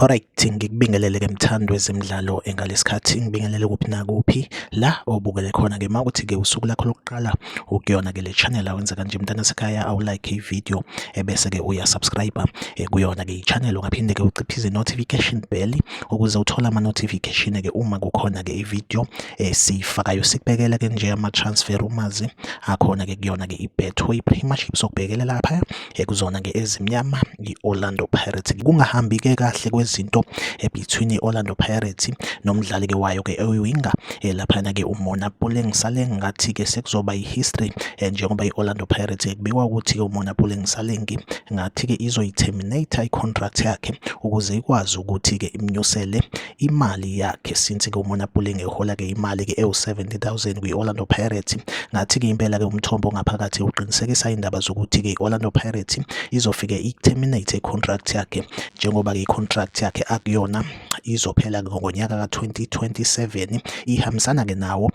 Alright, ngikubingelele ke mthandi wezemidlalo engalesikhathi ngibingelele kuphi nakuphi la obukele khona ke mawuthi ke usuku lakho lokuqala ukuyona ke le channel awenza kanje mntana sekhaya awu like i video ebese ke uya subscribe eh, kuyona ke i channel ungaphinde ke uciphize notification bell ukuze uthole ama notification ke uma kukhona ke i video esifakayo eh, sikubekela ke nje ama transfer umazi akhona ke kuyona ke i betway pretty much sokubhekela lapha ekuzona-ke ezimnyama i-Orlando Pirates kungahambi-ke kahle kwezinto eh, between i-Orlando Pirates nomdlali-ke wayo-ke oyiwinga eh, laphana-ke umona Puleng Saleng ngathi-ke sekuzoba i-history eh, njengoba i-Orlando Pirates kubikwa ukuthi-ke umona Puleng Salengi ngathi-ke izoyi-terminate i-contract yakhe ukuze ikwazi ukuthi-ke imnyusele imali yakhe since ke umona Puling ehola ke imali ke ewu 70000 kwi Orlando Pirates ngathi ke impela ke umthombo ngaphakathi uqinisekisa indaba zokuthi ke Orlando Pirates izofike i terminate contract yakhe njengoba ke contract yakhe akuyona izophela ngonyaka ka 2027 ihambisana ke nawo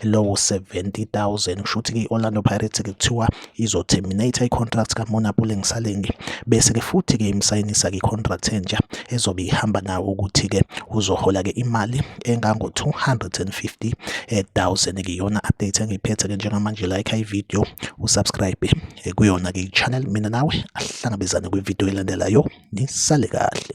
lowo 70000 kusho ukuthi ke Orlando Pirates ke kuthiwa izo-terminate i-contract kaMona Puleng Salenge bese-ke futhi-ke imsayinisa-ke i-contract entsha ezobe ihamba nawo ukuthi-ke uzohola-ke imali engango-250 000-ke iyona update engiyiphethe-ke njengamanje like i-video usubscribe eh, kuyona-ke i-channel mina nawe ahlangabezane kwi-video elandelayo nisale kahle